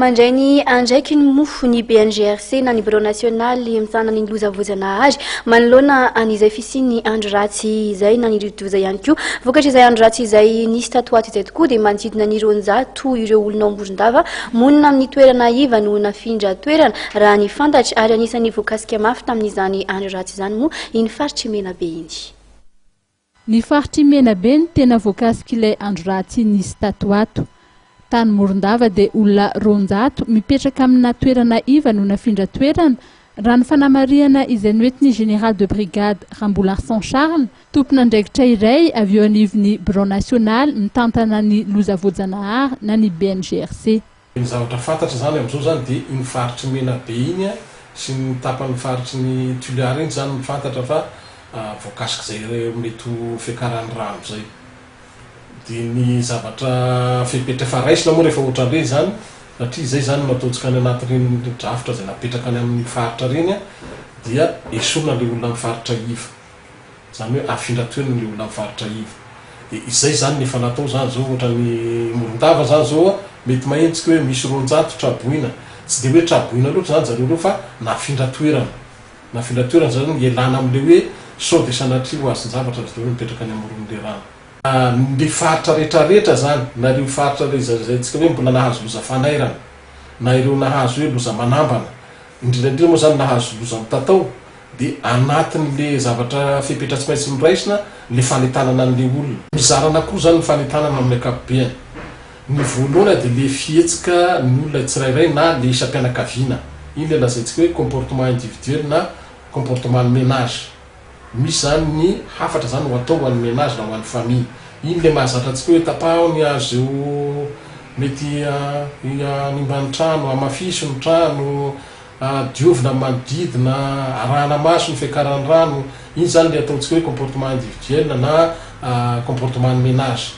Mandray ny andraikiny moa ny BNGRC na ny Birao Nasionaly Mitsahana ny Loza Voajanahary manoloana an'izay fisian'ny andro ratsy izay na ny rivodoza ihany koa. Vokatr'izay andro ratsy izay nisy tato ho ato izay tokoa dia manodidina ny roanjato ireo olona ao Morondava monina amin'ny toerana iva no nafindra toerana raha ny fantatra ary anisan'ny voakasika mafy tamin'izany andro ratsy izany moa iny faritr'i Menabe iny. Ny faritr'i Menabe no tena voakasik'ilay andro ratsy nisy tato ho ato. Tany Morondava dia olona roanjato mipetraka amina toerana iva no nafindra toerana, raha ny fanamarihana izay noentin'ny Général de brigade Rambolarson Charles, tompon'andraikitra iray avy eo anivon'ny Birao nasionaly mitantana ny loza voajanahary na ny BNGRC. Ny zavatra fantatra izany amin'izao izany dia iny faritry ny Menabe iny sy ny tapan'ny faritry ny Toliara iny izany no fantatra fa voakasik'izay mety ho fiakaran'ny rano izay. Dia ny zavatra fepetra efa raisina moa rehefa ohatran'ireny izany satria izay izany no ataontsika any anatin'iny drafitra izay napetraka any amin'iny faritra ireny dia esorina ilay olona amin'ny faritra iva. Izany hoe afindra teo ny olona mivarotra iva. Dia izay izany ny efa natao izany izao ohatra ny Morondava izany izao a, mety maheno tsika hoe misy roanjato traboina. Tsy dia hoe traboina loatra izany zareo ireo fa nafindra toerana. Nafindra toerana izany hoe ialana amin'ilay hoe sao dia sanatria ho azon-javatra ry zareo no mipetraka any amoron'ilay rano. Ilay faritra rehetra rehetra izany na ireo faritra ilay zaizaintsika hoe mbola nahazo loza fanairana na ireo nahazo hoe loza manambana, indrindra indrindra moa izany nahazo loza mitatao Dia anatin'ilay zavatra fepetra tsy maintsy noraisina ilay fanentanana an'ilay olona. Mizara anakiroa izany ny fanentanana amin'ny ankapobeny. Ny voalohany dia ilay fihetsika ny olona tsirairay na ilay isam-pianakaviana. Iny ilay lazaintsika hoe comportement individuel na comportement ny menage. Misy izany ny hafatra izany ho atao ho an'ny menage na ho an'ny famille. Iny ilay mahazatra antsika hoe tapaho ny hazo izay mety hanimba ny trano, hamafiso ny trano, Diovina ny manodidina, arahana maso ny fiakaran'ny rano, iny izany ilay ataontsika hoe comportement individuel na comportement ny menage.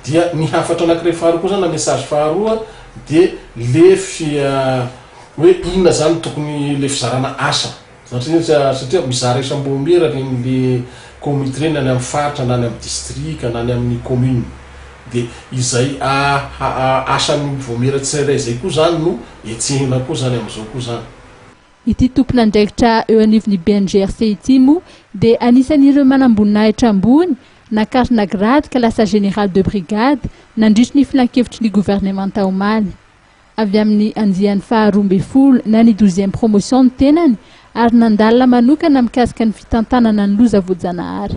Dia ny hafatra anankiray faharoa koa izany na message faharoa dia le fi hoe inona izany tokony le fizarana asa satria mizara isam-boamiera ireny le comite ireny any amin'ny faritra na any amin'ny distrika na any amin'ny commune. Dia izay asan'ny vaomiera tsirairay izay koa izany no hetsehina koa izany amin'izao koa izany. Ity tompon'andraikitra eo anivon'ny BNGRC ity moa dia anisan'ireo manamboninahitra ambony, nakarina grade ka lasa Général de brigade nandritry ny filankevitry ny governemanta omaly. Avy amin'ny andiany faharoa ambin'ny folo na ny douzième promotion ny tenany ary nandalina manokana mikasika ny fitantanana ny loza voajanahary.